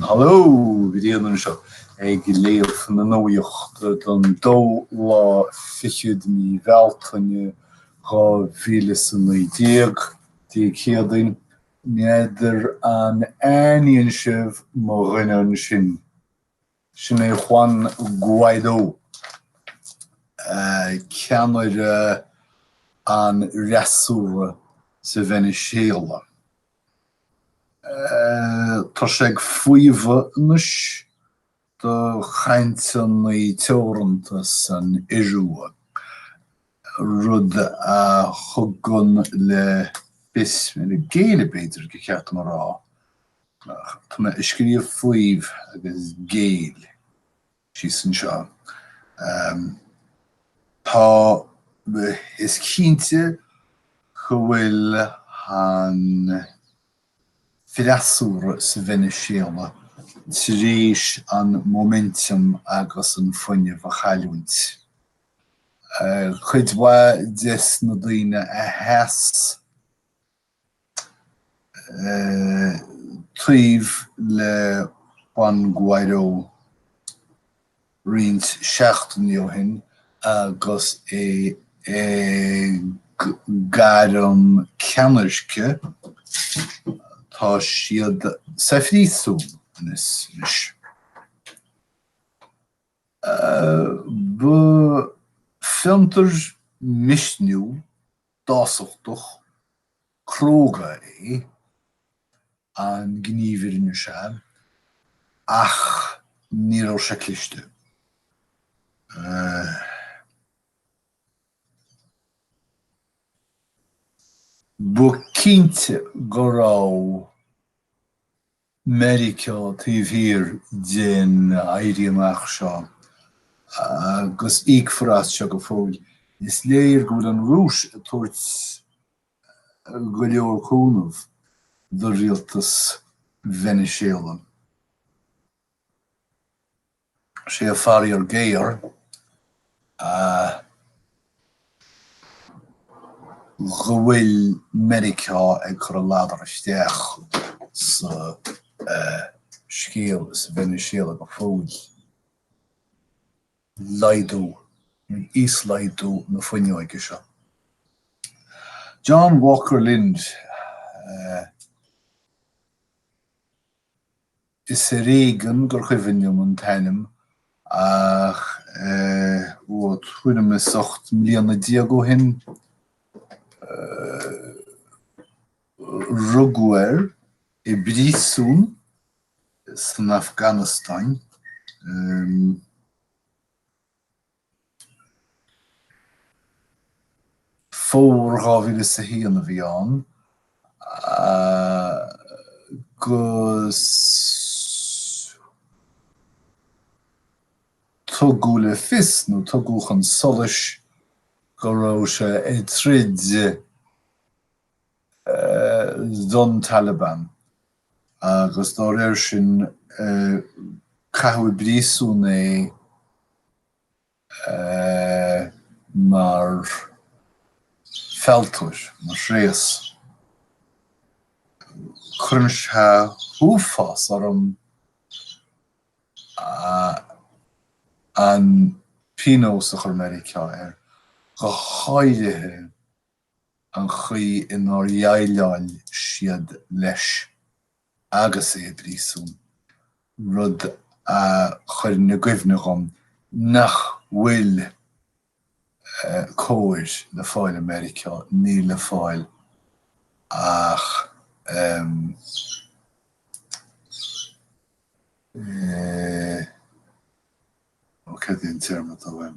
Haló! Gordon anseo ag léamh na nuaíochta don dóú lá fichead mí Bealtaine 2019, Dé Céadaoin. N'fheadar an aithníonn sibh mo dhuine ansin? Sin é Juan Guaidó, ceannaire an fhreasúra sa Veiniséala. Tá sé ag faomhadh anois do chainteanna teoranta san Iorua rud a thugann le fios, ag géilleadh b'fhéidir gur cheart dom a rá, tá mé ag scríobh faomhadh agus géilleadh síos anseo, tá, is cinnte go bhfuil an freasúra sa Veiniséala tar éis an momentum agus an fuinneamh a chailliúint. Cuid mhaith des na daoine a sheas taobh le Juan Guaidó roinnt seachtainí ó shin agus é ag gairm ceannairce,, tá siad sa phríosún anois. Ba fiontar misniúil, dásachtach, cróga é an gníomh seo, ach ní raibh sé cliste. Ba chinnte go raibh Meiriceá taobh thiar den Éirí Amach seo, agus íocfar as seo go fóill. Is léir go bhfuil an Rúis ag tabhairt go leor cúnamh do rialtas Veiniséala. Is é an faraor géar é go bhfuil Meiriceá ag cur a ladar isteach sa scéal sa Veiniséala go fóill. Laghdú, íoslaghdú na fuinneoige seo. John Walker Lindh. Is ar éigean gur chuimhin liom an t-ainm ach tuairim is ocht mbliana déag ó shin rugadh air i bpríosún san Afganastáin. Fómhar 2001 a bhí ann, agus tugadh le fios, nó tugadh chun solais, go raibh sé ag troid don Taliban agus dá réir sin caitheadh i bpríosún é mar fealltóir, mar thréas. Cuireann sé uafás orm an pionós a chuir Meiriceá air, go háirithe. an chaoi inar dhéileáil siad leis agus é i bpríosún, rud a chuireann i gcuimhne dhom nach bhfuil cóir le fáil i Meiriceá, níl le fáil ach eh. ó, cad é an téarma atá uaim?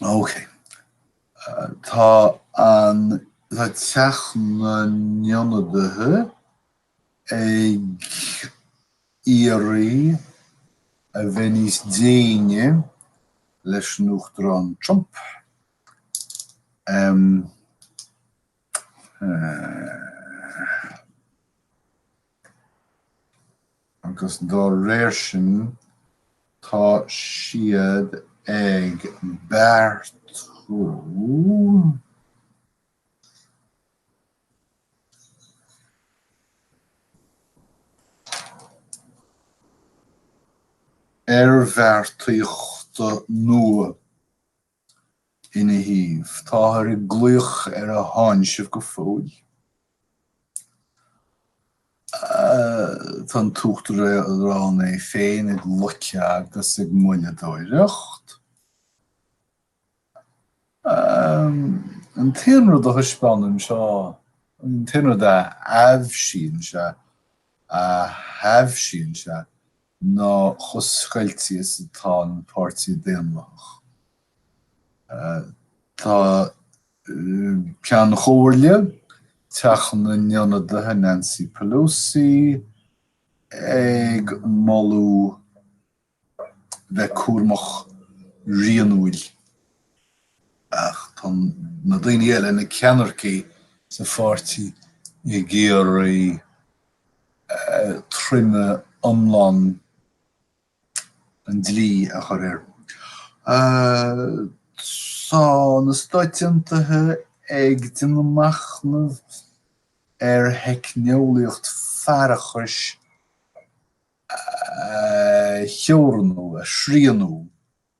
Ok. Tá an Teach na nIonadaithe ag iarraidh a bheith níos déine leis an Uachtarán Trump. agus dá réir sin tá siad ag beartú oirbheartaíochta nua. Ina thaobh, táthar ag glaoch ar a tháinseamh go fóill. Tá an tUachtarán é féin ag loiceadh agus ag moilleadóireacht. An t-aon rud a thaispeánann seo, an t-aon rud a aibhsíonn sé, a aibhsíonn sé, ná chomh scoilte is atá an Páirtí Daonlathach. Tá Ceann Chomhairle Theach na nIonadaithe Nancy Pelosi ag moladh bheith cúramach rianúil ach tá na daoine eile, na ceannairceacha sa pháirtí, ag iarraidh. troime iomlán an dlí a chur air. Tá na Stáit Aontaithe ag déanamh machnaimh ar theicneolaíocht faireachais a theorannú, a shrianú,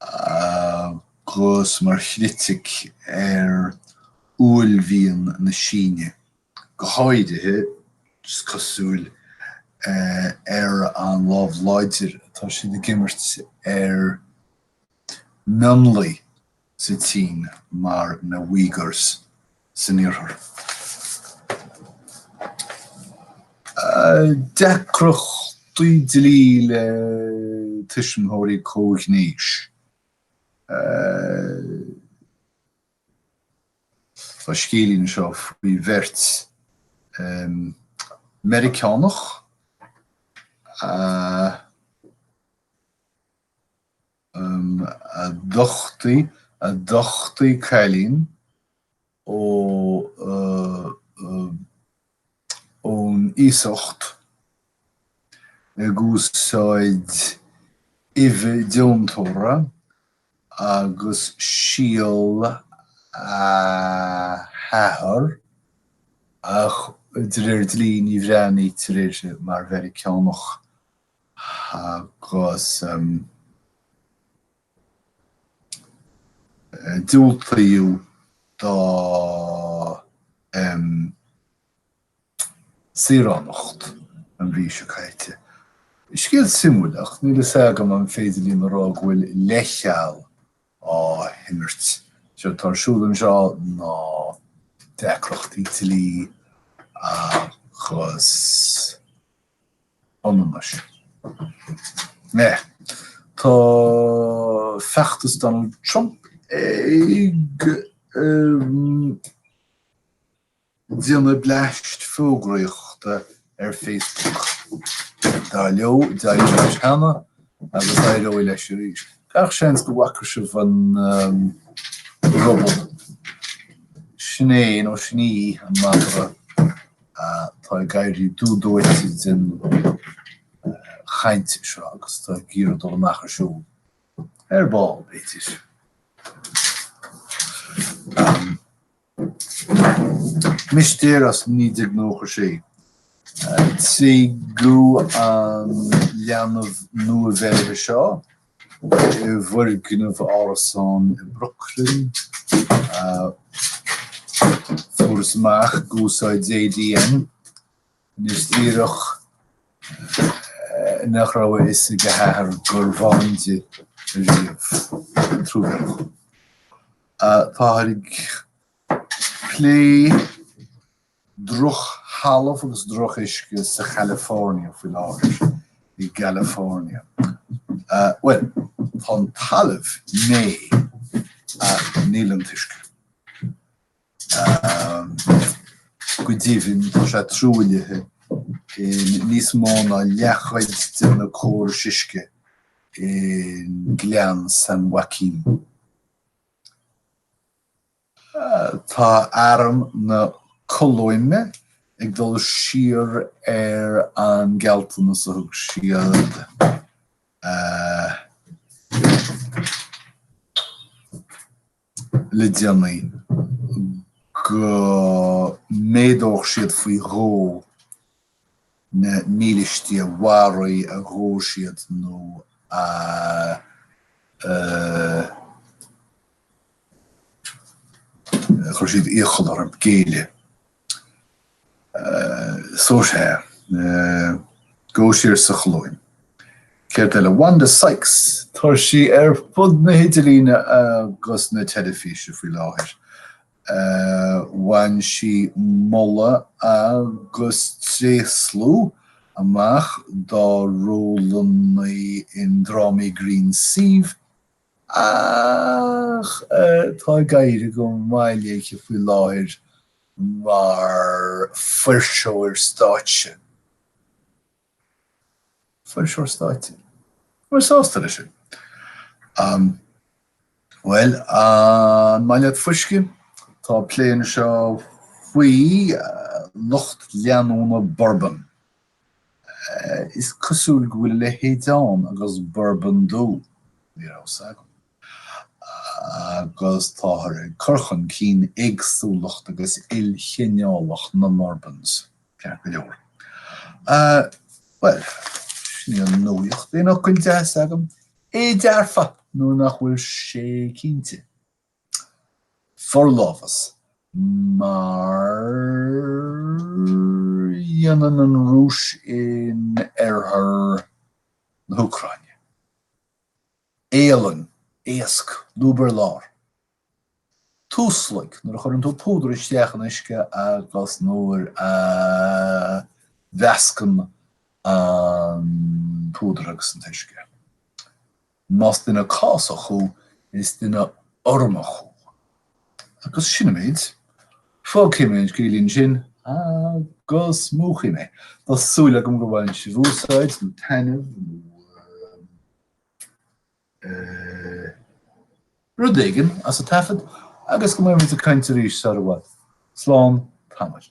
agus mar chritic ar uaillmhian na Síne, go háirithe, is cosúil, ar an lámh láidir atá siad ag imirt ar mhionlaigh sa tSín mar na Uyghurs. san iarthar. Deacrachtaí dlí le tuismitheoirí comhghnéis Tá scéilín seo faoi bheirt Mheiriceánach a. um a d'uchtaigh a d'uchtaigh cailín ó uh ón iasacht ag úsáid uibhe deontóra agus síol a hathar ach de réir dlí ní bhreathnaítear uirthi mar Mheiriceánach agus diúltaíodh di saoránacht an mhí seo caite. Scéal suimiúil, ach níl a fhios agam an féidir linn a rá go bhfuil leithcheal á himirt. Is é atá ar siúl anseo ná deacrachtaí dlí agus. ionannais. Meh. Tá feachtas Donald Trump ag déanamh bleaist fógraíochta ar Facebook. Dar leo, d'éirigh leis cheana agus éireoidh leis arís. Gach seans go bhfaca sibh an róbó. Sin é, nó sin í, an madra. Tá ag éirí dubh dóite den chaint seo agus tá ag iarraidh dul amach ar siúl, ar ball, b'fhéidir. Mistéir as naoi déag nócha sé. Tréigeadh an leanbh nua-bheirthe seo. i bhfoirgneamh árasán i mBrooklyn. Fuarthas amach ag úsáid ADN anois díreach nach raibh a fhios ag a hathair gurbh ann di riamh. Truamhéalach. Táthar ag plé drochthalamh agus droch-uisce sa California faoi láthair, i gCalifornia. Bhuel, tá an talamh méith ach níl an t-uisce. Go deimhin, tá sé truaillithe i níos mó ná leathchuid de na córais uisce i nGleann San Joaquin. Tá arm na Colóime ag dul siar ar an gealltanas a thug siad le déanaí go méadódh siad faoi dhó na mílístí a mharaigh, a ghabh siad nó a chuir siad iachall orthu géilleadh. So sea, dul siar sa Cholóim. Céard eile? Wanda Sykes, tá sí ar fud na hidirlíne agus na teilifíse faoi láthair. Bhain sí moladh agus tréaslú amach dá rólanna i ndrámaí grinn suímh ach tá ag éirí go maith léithe faoi láthair mar fuirseoir stáitse. Fuirseoir stáitse, An bhfuil sásta leis sin. Bhuel, an maith leat fuisce? Tá plé anseo faoi lucht leanúna Bourbon. Is cosúil go bhfuil a leithéid ann agus Bourbon dubh. Ní raibh a fhios agam. agus táthar ag cur chun cinn éagsúlacht agus ilchineálacht na mBurbans, ceart go leor. Bhuel, sin í an nuaíocht, aon fhocail deasa agam? É dearfa, nó nach bhfuil sé cinnte. Forlámhas, mar a dhéanann an Rúis in oirthear na hÚcráine. éalang, éasc, lúb ar lár. Tuaslaig, nuair a chuireann tú púdar isteach in uisce agus nuair a mheascann an púdar agus an t-uisce. Más duine cásach thú, is duine urramach thú. Agus sin an méid. Fágfaidh mé an scéal ansin agus múchfaidh mé. Tá súil agam go bhfaigheann sibh úsáid, nó taitneamh, nó. rud éigin as an taifead agus go mbeimid ag caint arís sar i bhfad. Slán tamaill.